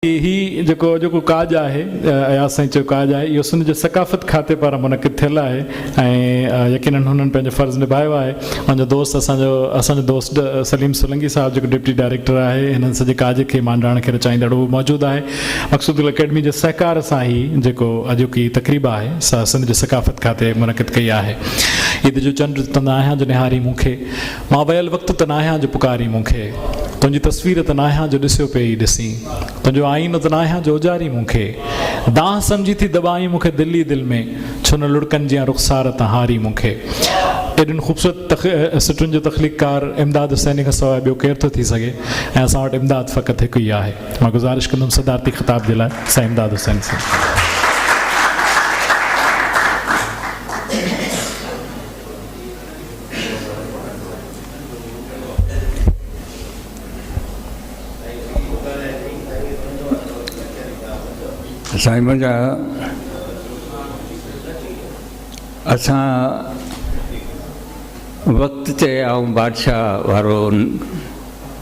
هي جيڪو اڄوڪو ڪاڄ آهي اياز سائين چيو ڪاڄ آهي اهو سنڌ جي ثقافت کاتي پاران منعقد ٿيل آهي ۽ يقينن هنن پنهنجو فرض نڀايو آهي هن جو دوست اسان جو اسان جو دوست سليم سولنگي صاحب جيڪو ڊپٽي ڊائريڪٽر آهي هنن سڄي ڪاڄ کي مانڊاڻ کي رچائيندڙ هو موجود آهي مقصود گل اڪيڊمي جي سهڪار سان هي جيڪو اڄوڪي تقريب آهي سا سنڌ جي ثقافت کاتي منعقد ڪئي آهي. عيد جو چنڊ ته ناهيان جو نهارين مون کي. مان ويل وقت ته ناهيان جو پڪارين مون کي. تنهنجي تصوير ته ناهيان جو ڏسيو پئي ئي ڏسين. تنهنجو آئينو ته ناهيان جو اجارين مون کي. دانهن سمجهي ٿي دٻائين مون کي دل ئي دل ۾. ڇو نه لڙڪن جيان رخسار تان هارين مون کي. ايڏين خوبصورت سٽن جو تخليقڪار امداد حسيني کان سواء ٻيو ڪير ٿو ٿي سگهي ۽ اسان وٽ امداد فقط هڪ ئي آهي. مان گذارش ڪندم صدارتي خطاب جي لاء سائين امداد حسين صاحب. سائين منهنجا اسان وقت تي آئون بادشاهه وارو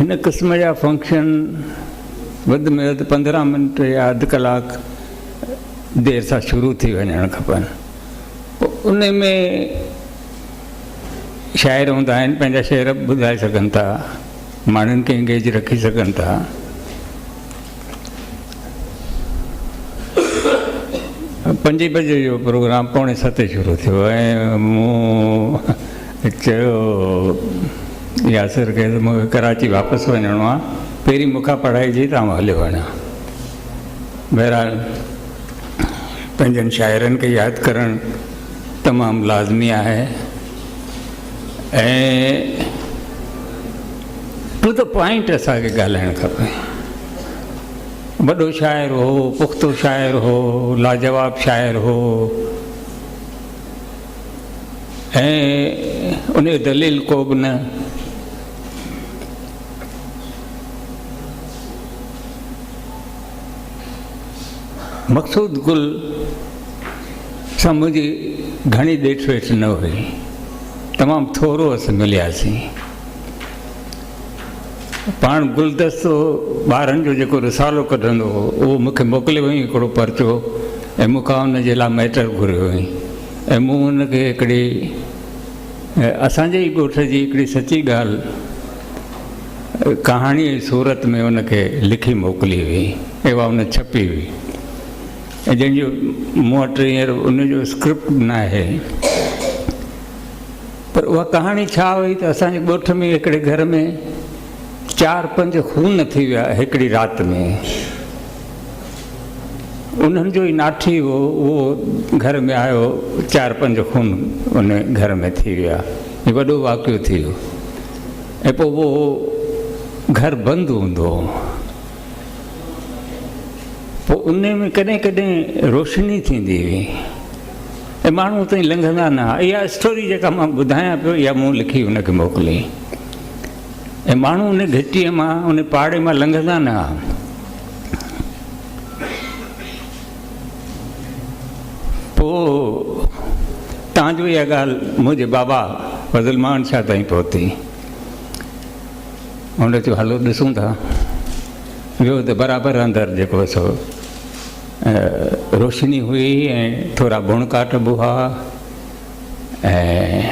هن قسم جا فنڪشن وڌ ۾ وڌ پندرهن منٽ يا اڌ ڪلاڪ دير سان شروع ٿي وڃڻ کپن ان ۾ شاعر هوندا آهن پنهنجا شعر ٻڌائي سگهن ٿا ماڻهن کي انگيج رکي سگهن ٿا پنجين بجي جو پروگرام پوڻي ستين شروع ٿيو ۽ مون چيو ياسر کي ته مونکي ڪراچي واپس وڃڻو آهي پهرين مون کان پڙهائي جي ته آئون هليو وڃان بهرحال پنهنجن شاعرن کي ياد ڪرڻ تمام لازمي آهي ۽ ٽو دي پوائنٽ اسان کي ڳالهائڻ کپي وڏو شاعر هو پختو شاعر هو لاجواب شاعر هو ۽ ان دليل کو به نه مقصود گل سان منهنجي گهڻي ڏيٺ ويٺ نه هئي تمام ٿورو اس ملياسين پاڻ گلدستو ٻارهن جو جيڪو رسالو ڪڍندو هو اهو مون کي موڪليو هئائين هڪڙو پرچو ۽ مون کان ان جي لاء ميٽر گهريو هئائين ۽ مون ان کي هڪڙي اسان جي ئي ڳوٺ جي هڪڙي سچي ڳالهه ڪهاڻي جي صورت ۾ ان کي لکي موڪلي هئي ۽ اها ان ڇپي هئي ۽ جنهن جو مون وٽ هينئر ان جو اسڪرپٽ به ناهي پر اها ڪهاڻي ڇا هئي ته اسان جي ڳوٺ ۾ هڪڙي گهر ۾ چار پنج خون ٿي ويا هڪڙي رات ۾ انهن جو ئي ناٺي هو اهو گهر ۾ آيو چار پنج خون ان گهر ۾ ٿي ويا هي وڏو واقعو ٿي ويو ۽ پوء اهو گهر بند هوندو هو پوء ان ۾ ڪڏهن ڪڏهن روشني ٿيندي هئي اهي ماڻهو اتان لنگهندا نه ها. اها اسٽوري جيڪا مان ٻڌايان پيو اها مون لکي هن کي موڪلي. اهي ماڻهو ان گهٽيء مان ان پاڙي مان لنگهندا نه ها. پوء تان جو اها ڳالهه منهنجي بابا فضل مان شاهه تائين پهتي. هن چيو هلو ڏسون ٿا. ويو ته برابر اندر جيڪو سو روشني هئي ۽ ٿورا بڻ ڪاٺ به هئا ۽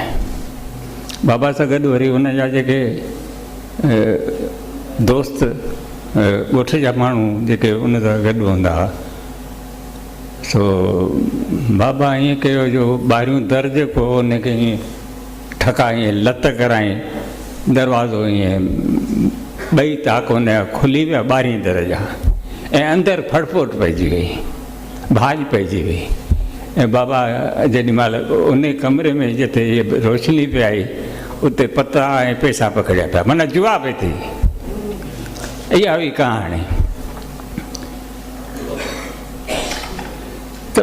بابا سان گڏ وري ان جا جيڪي دوست ڳوٺ جا ماڻهو جيڪي ان سان گڏ هوندا هئا سو بابا ائين ڪيو جو ٻاهريون در جيڪو هو ان کي ٺڪا ائين لت ڪرايائين، دروازو ائين ٻئي تاڪ هن جا کلي ويا، ٻاهرين در جا، ۽ اندر ڦڙڦوٽ پئجي وئي، ڀاڄ پئجي وئي، ۽ بابا جيڏي مهل ان ڪمري ۾ جتي روشني پئي آئي، اتي پتا ۽ پئسا پکڙيا پيا، معنيٰ جوا پئي ٿي. اها هئي ڪهاڻي. ته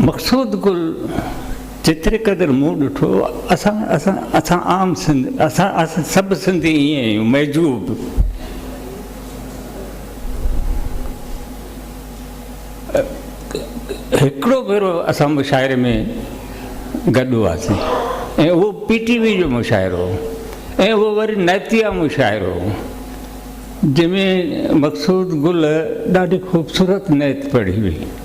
مقصود گل جيتري قدر مون ڏٺو اسان اسان اسان عام سنڌ اسان اسان سڀ سنڌي ائين آهيون معجوب هڪڙو ڀيرو اسان مشاعري ۾ گڏ هئاسين ۽ اهو پي ٽي وي جو مشاعرو هو ۽ اهو وري نيتيا مشاعرو هو جنهن ۾ مقصود گل ڏاڍي خوبصورت نيت پڙهي هئي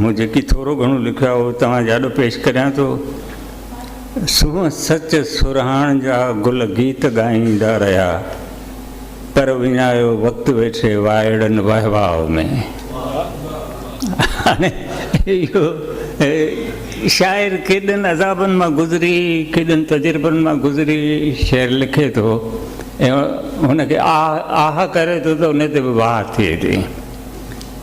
مون جيڪي ٿورو گهڻو لکيو آهي اهو توهان جي آڏو پيش ڪريان ٿو. سونهن سچ سرهاڻ جا گل گيت ڳائيندا رهيا پر وڃايو وقت ويٺي وائڙن وهواء ۾ هاڻي اهو شاعر ڪيڏن عذابن مان گذري ڪيڏن تجربن مان گذري شعر لکي ٿو هن کي آه آه ڪري ٿو ته ان تي به واهه ٿئي ٿي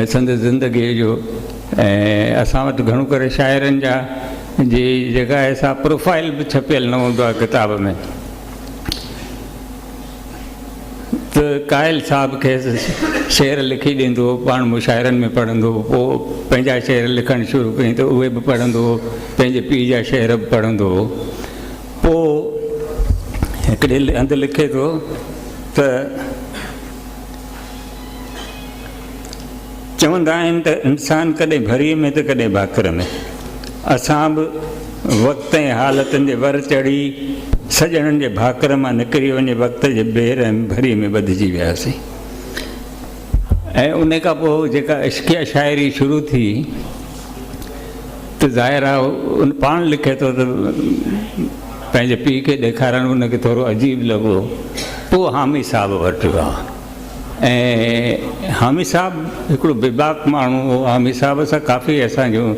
۽ سندس زندگيء جو ۽ اسان وٽ گهڻو ڪري شاعرن جا جي جيڪا آهي سا پروفائيل به ڇپيل نه هوندو آهي ڪتاب ۾ ته قائل صاحب کيس شعر لکي ڏيندو هو پاڻ مشاعرن ۾ پڙهندو هو پوء پنهنجا شعر لکڻ شروع ڪيائين ته اهي به پڙهندو هو پنهنجي پيء جا شعر به پڙهندو هو پوء هڪڙي هنڌ لکي ٿو ته چوندا آهن ته انسان ڪڏهن ڀريء ۾ ته ڪڏهن ڀاڪر ۾ اسان به وقت ۽ حالتن جي ور چڙهي سڄڻن جي ڀاڪر مان نڪري وڃي وقت جي بي رحم ڀريء ۾ ٻڌجي وياسين ۽ ان کان پوء جيڪا عشقيه شاعري شروع ٿي ته ظاهر آهي ان پاڻ لکي ٿو ته پنهنجي پيء کي ڏيکارڻ ان کي ٿورو عجيب لڳو پوء حامي صاحب وٽ ويا ۽ حامي صاحب هڪڙو بيباڪ ماڻهو هو حامي صاحب سان ڪافي اسان جون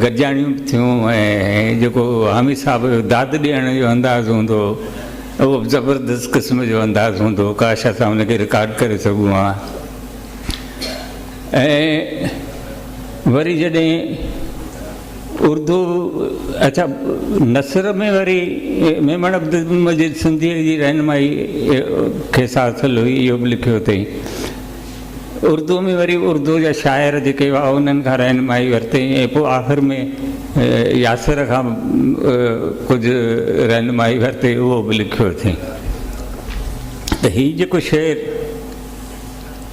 گڏجاڻيون به ٿيون ۽ جيڪو حامي صاحب جو داد ڏيڻ جو انداز هوندو هو اهو زبردست قسم جو انداز هوندو ڪاش اسان ان کي رڪارڊ ڪري سگهون ها ۽ وري جڏهن اردو اڇا نثر ۾ وري ميمڻ عبدالمجيد سنڌيء جي رهنمائي کيس حاصل هئي اهو به لکيو اٿئي اردو ۾ وري اردو جا شاعر جيڪي هئا انهن کان رهنمائي ورتئي ۽ پوء آخر ۾ ياسر کان ڪجهه رهنمائي ورتئي اهو به لکيو اٿئي ته هي جيڪو شعر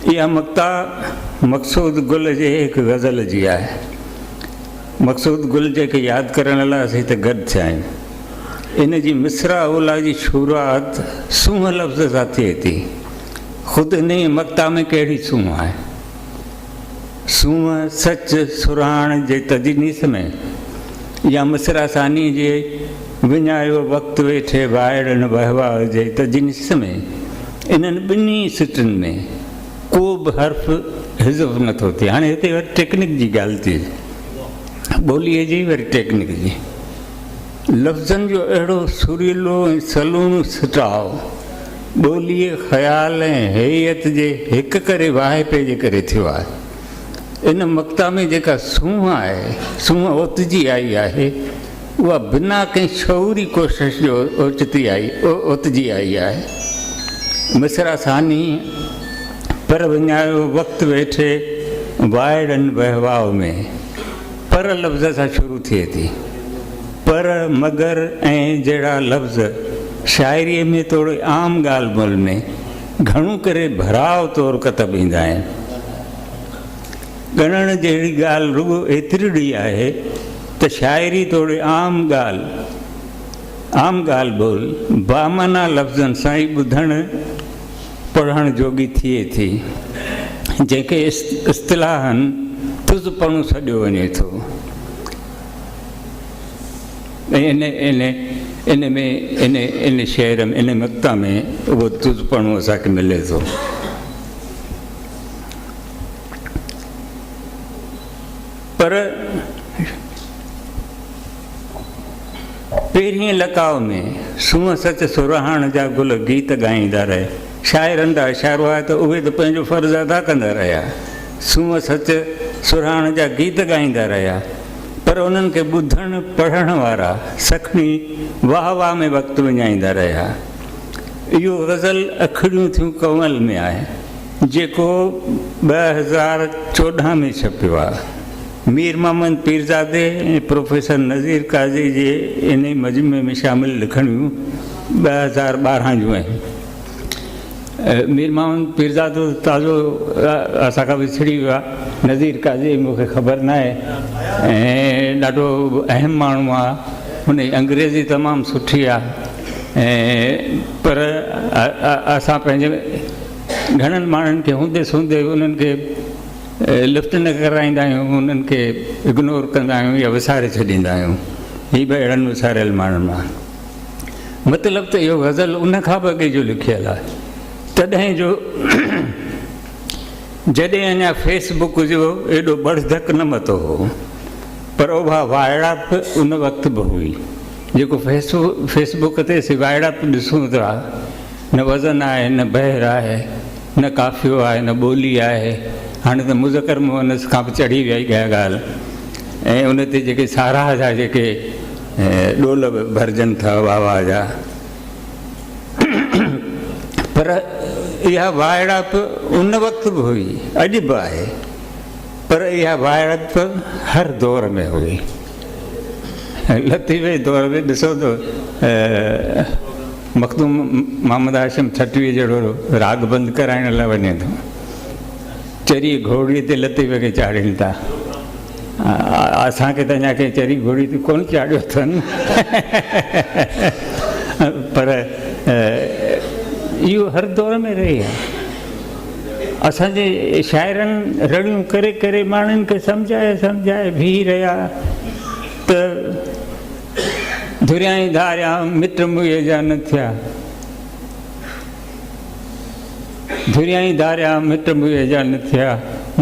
اها مقطع مقصود گل جي هڪ غزل جي آهي. مقصود گل جي کي ياد ڪرڻ لاء اسين هتي گڏ ٿيا آهيون. ان جي مصرع اولا جي شروعات سونهن لفظ سان ٿئي ٿي. خود انهيء مقطع ۾ ڪهڙي سونهن آهي؟ سونهن، سچ، سرهاڻ جي تجنيس ۾ يا مصرع ثاني جي وڃايو وقت ويٺي وائڙن وهوا جي تجنيس ۾ انهن ٻنهي سٽن ۾ ڪو به حرف حذف نه ٿو ٿئي. هاڻي هتي وري ٽيڪنڪ جي ڳالهه ٿئي. ٻوليء جي وري ٽيڪنڪ جي. لفظن جو اهڙو سريلو ۽ سلوڻو سٽاء ٻوليء، خيال ۽ هيئت جي هڪ ڪري واهپي جي ڪري ٿيو آهي. ان مقطع ۾ جيڪا سونهن آهي، سونهن اوتجي آئي آهي. اها بنا ڪنهن شعوري ڪوشش جو اوچتي آئي اوتجي آئي آهي. مصرع ثاني، پر وڃايو وقت ويٺي وائڙن وهواء ۾، پر لفظ سان شروع ٿئي ٿي. پر، مگر ۽ جهڙا لفظ شاعريء ۾ توڙي عام ڳالهه ٻولهه ۾ گهڻو ڪري ڀراء طور ڪتب ايندا آهن. ڳڻڻ جهڙي ڳالهه رڳو ايترڙي آهي ته شاعري توڙي عام ڳالهه عام ڳالهه ٻول بامعنيٰ لفظن سان ئي ٻڌڻ پڙهڻ جوڳي ٿئي ٿي، جنهن کي اصطلاحاً تز پڻو سڏيو وڃي ٿو ۽ ان ۾ ان ان شعر ۾ ان مقطع ۾ اهو تز پڻو اسان کي ملي ٿو. پر پهرين لقاء ۾ سونهن سچ سرهاڻ جا گل گيت ڳائيندا رهي شاعرن جا اشارو آهي ته اهي ته پنهنجو فرض ادا ڪندا رهيا سونهن سچ سرهاڻ جا گيت ڳائيندا رهيا پر انهن کي ٻڌڻ پڙهڻ وارا سکڻي واهه واهه ۾ وقت وڃائيندا رهيا اهو غزل اکڙيون ٿيون ڪنول ۾ آهي جيڪو ٻه هزار چوڏهن ۾ ڇپيو آهي. مير محمد پيرزادي ۽ پروفيسر نذير قاضي جي انهي مجموعي ۾ شامل لکڻيون ٻه هزار ٻارهن جون آهن. مير محمد پيرزادو ته تازو اسان کان وڇڙي ويو آهي. نذير قاضي جي مون کي خبر ناهي ۽ ڏاڍو اهم ماڻهو آهي. هن جي انگريزي تمام سٺي آهي ۽ پر اسان پنهنجي گهڻن ماڻهن کي هوندي سوندي انهن کي لفٽ نه ڪرائيندا آهيون انهن کي اگنور ڪندا آهيون يا وساري ڇڏيندا آهيون هي به اهڙن وساريل ماڻهن مان مطلب ته اهو غزل ان کان به اڳي جو لکيل آهي تڏهن جو جڏهن اڃا فيس بڪ جو ايڏو بڙ ڌڪ نه متو هو پر اوڀا وائڙپ ان وقت به هئي جيڪو فيس فيس بڪ تي سي وائڙپ ڏسون ٿا نه وزن آهي نه بحر آهي نه قافيو آهي نه ٻولي آهي هاڻي ته مذڪر مؤنث کان به چڙهي ويئي اها ڳالهه ۽ ان تي جيڪي ساراهه جا جيڪي ڏول ڀرجن ٿا واهه واهه جا پر اها وائڙائپ ان وقت به هئي اڄ به آهي پر اها وائڙائپ هر دور ۾ هئي لطيفي طور تي ڏسو ته مخدوم محمد هاشم ٺٽوي جهڙو راڳ بند ڪرائڻ لاء وڃي ٿو چري گهوڙي تي لطيفي کي چاڙهين ٿا اسان کي ته اڃا ڪنهن چري گهوڙي تي ڪونه چاڙهيو اٿن پر اهو هر دور ۾ رهي آهي اسان جي شاعرن رڙيون ڪري ڪري ماڻهن کي سمجهائي سمجهائي بيهي رهيا ته دريائين ڌاريا مٽ موئي جا نه ٿيا دريائين ڌاريا مٽ موئي جا نه ٿيا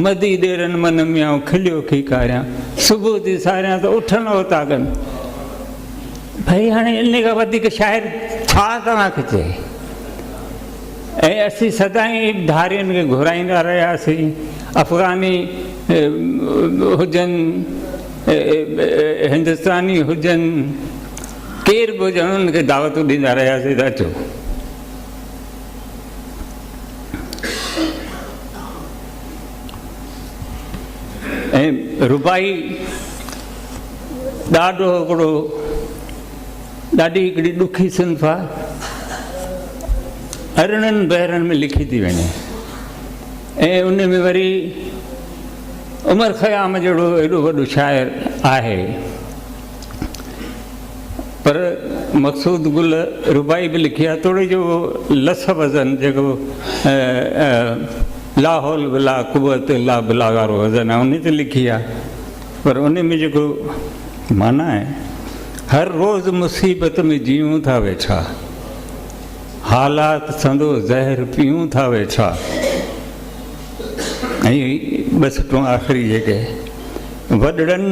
مدي ڏيرن من ميان کليو کي کاريا صبح جي ساريا ته اٺن اوتاڪن ڀائي هاڻي ان کان وڌيڪ شاعر ڇا توهان کي چئي ۽ اسين سدائين ڌارين کي گهرائيندا رهياسين، افغاني هجن، هندستاني هجن، ڪير به هجن انهن کي دعوتون ڏيندا رهياسين ته اچو. ۽ رباعي ڏاڍو هڪڙو. ڏاڍي هڪڙي ڏکي صنف آ ارڙهن بحرن ۾ لکي ٿي وڃي ۽ ان ۾ وري عمر خيام جهڙو ايڏو وڏو شاعر آهي پر مقصود گل ربائي به لکي آ توڙي جو لس وزن جيڪو لاحول بلا قوت لا بلا وارو وزن آ ان تي لکي آ پر ان ۾ جيڪو معنيٰ آهي، هر روز مصيبت ۾ جيئون ٿا ويٺا، حالات سندو زهر پيئون ٿا ويٺا ۽ ٻه سٽون آخري جيڪي وڏڙن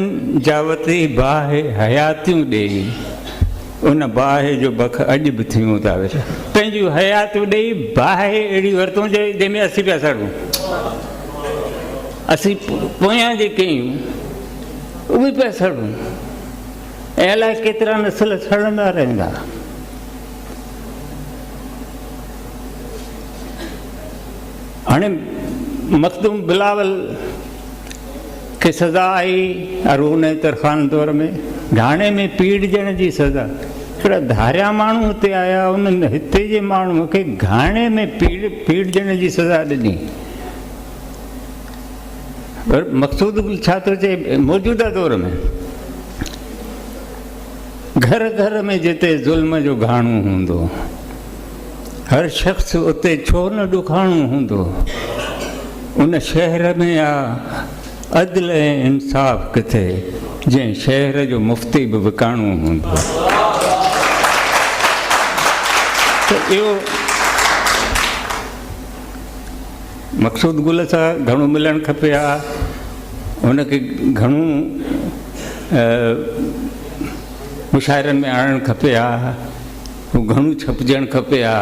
جا وتي باهه حياتيون ڏيئي ان باهه جو بک اڄ به ٿيون ٿا ويٺا پنهنجون حياتيون ڏيئي باهه اهڙي ورتون جنهن ۾ اسين پيا سڙون اسين پويان جيڪي آهيون اهي پيا سڙون ۽ الائي ڪيترا نسل سڙندا رهندا. هاڻي مخدوم بلاول کي سزا آئي ارون ترخان دور ۾ ڍاڻي ۾ پيڙجڻ جي سزا پر ڌاريا ماڻهو هتي آيا انهن هتي جي ماڻهو کي گهاڻي ۾ پيڙ پيڙجڻ جي سزا ڏني پر مقصود ڇا ٿو چئي موجوده دور ۾ گهر گهر ۾ جتي ظلم جو گهاڻو هوندو هر شخص اتي ڇو نه ڏکاڻو هوندو ان شهر ۾ آ عدل ۽ انصاف ڪٿي جنهن شهر جو مفتي به وڪاڻو هوندو اهو مقصود گل سان گهڻو ملڻ کپي ها. هن کي گهڻو مشاعرن ۾ آڻڻ کپي ها. هو گهڻو ڇپجڻ کپي ها.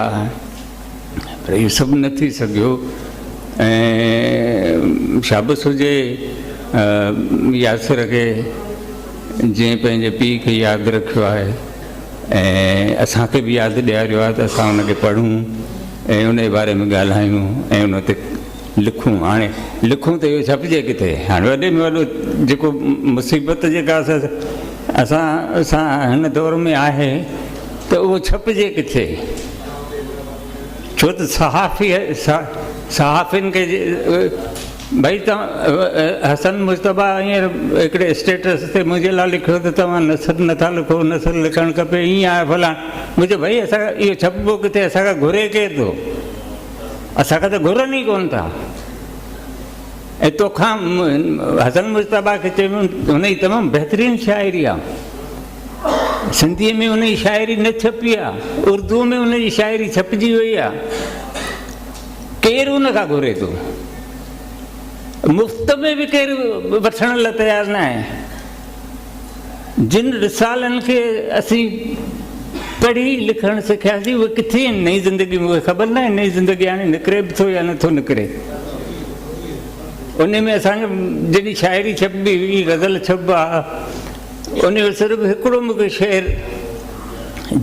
پر اهو سڀ نه ٿي سگهيو. ۽ شابس هجي ياسر کي جنهن پنهنجي پيء کي ياد رکيو آهي. ۽ اسان کي به ياد ڏياريو آهي ته اسان ان کي پڙهون ۽ ان جي باري ۾ ڳالهايون ۽ ان تي لکون هاڻي لکون ته اهو ڇپجي ڪٿي هاڻي وڏي ۾ وڏو جيڪو مصيبت جيڪا اسان سان هن دور ۾ آهي ته اهو ڇپجي ڪٿي ڇو ته صحافي صحافين کي ڀئي توهان حسن مجتبيٰ هينئر هڪڙي اسٽيٽس تي منهنجي لاء لکيو ته توهان نثر نٿا لکو نثر لکڻ کپي ائين آهي فلاڻ مون چيو ڀئي اسان کان اهو ڇپبو ڪٿي اسان کان گهري ڪير ٿو اسان کان ته گهرن ئي ڪونه ٿا ۽ توکان حسن مجتبيٰ کي چيو هن جي تمام بهترين شاعري آهي سنڌي ۾ ان جي شاعري نه ڇپي آهي اردو ۾ ان جي شاعري ڇپجي وئي آهي ڪير ان کان گهري ٿو؟ مفت ۾ به ڪير وٺڻ لاء تيار نه آهي. جن رسالن کي اسين پڙهي لکڻ سکياسين اهي ڪٿي آهن نئين زندگي ۾ اهي خبر ناهي نئين زندگي هاڻي نڪري به ٿو يا نٿو نڪري. ان ۾ اسان جي جڏهن شاعري ڇپبي هئي غزل ڇپبا ان جو صرف هڪڙو مون کي شعر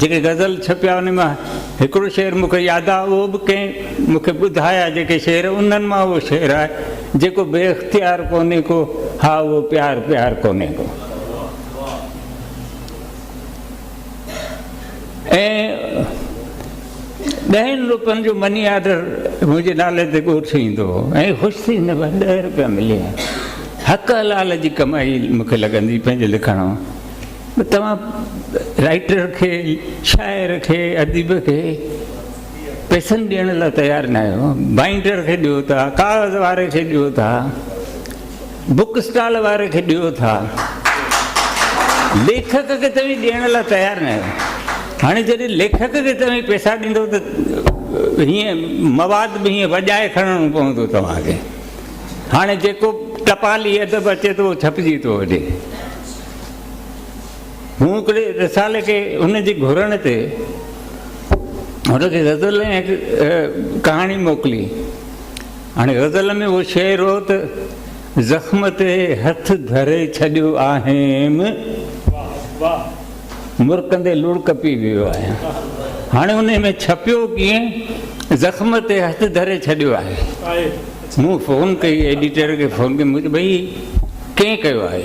جيڪي غزل ڇپيا ان مان هڪڙو شعر مون کي ياد آهي اهو به ڪنهن مون کي ٻڌايا جيڪي شعر انهن مان اهو شعر آهي جيڪو بي اختيار ڪونهي ڪو ها اهو پيار پيار ڪونهي ڪو. ۽ ڏهن روپين جو مني آرڊر منهنجي نالي تي ڳوٺ ايندو هو ۽ خوش ٿي هن ڏهه روپيا ملي حق حلال جي ڪمائي مون کي لڳندي پنهنجو لکڻ توهان رائٽر کي شاعر کي اديب کي پيسن ڏيڻ لاء تيار نه آهيو بائنڊر کي ڏيو ٿا ڪاغذ واري کي ڏيو ٿا بوڪ اسٽال واري کي ڏيو ٿا ليکڪ کي توهين ڏيڻ لاء تيار نه آهيو هاڻي جڏهن ليکڪ کي توهين پيسا ڏيندو ته هيئن مواد به هيئن وڄائي کڻڻو پوندو توهان کي هاڻي جيڪو ٽپالي ادب اچي ٿو اهو ڇپجي ٿو وڃي هو هڪڙي رسالي کي ان جي گهرڻ تي هن کي غزل ۽ ڪهاڻي موڪلي هاڻي غزل ۾ اهو شعر هو ته زخم تي هٿ ڌري ڇڏيو آهيم مرڪندي لڙڪ پي ويو آهيان هاڻي انهي ۾ ڇپيو ڪيئن زخم تي هٿ ڌري ڇڏيو آهي مون فون ڪئي ايڊيٽر کي فون ڪئي مون چيو ڀئي ڪئين ڪيو آهي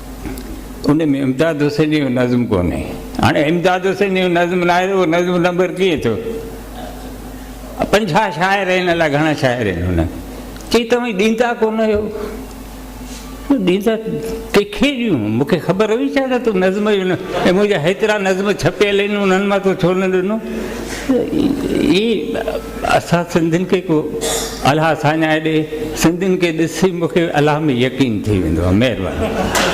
ان ۾ امداد حسين جو نظم ڪونهي هاڻي امداد حسين جو نظم ناهي اهو نظم نمبر ڪيئن ٿيو پنجاهه شاعر آهن الاء گهڻا شاعر آهن هن چي توهين ڏيندا ڪون آهيو ڏيندا ڪنکي ڏيون مونکي خبر هئي ڇا ته تون نظم جو نه ۽ منهنجا هيترا نظم ڇپيل آهن انهن مان تو ڇو نه ڏنو اسان سنڌين کي ڪو الهه ساڃاهي ڏي سنڌين کي ڏسي مون کي الهه ۾ يقين ٿي ويندو آهي مهرباني.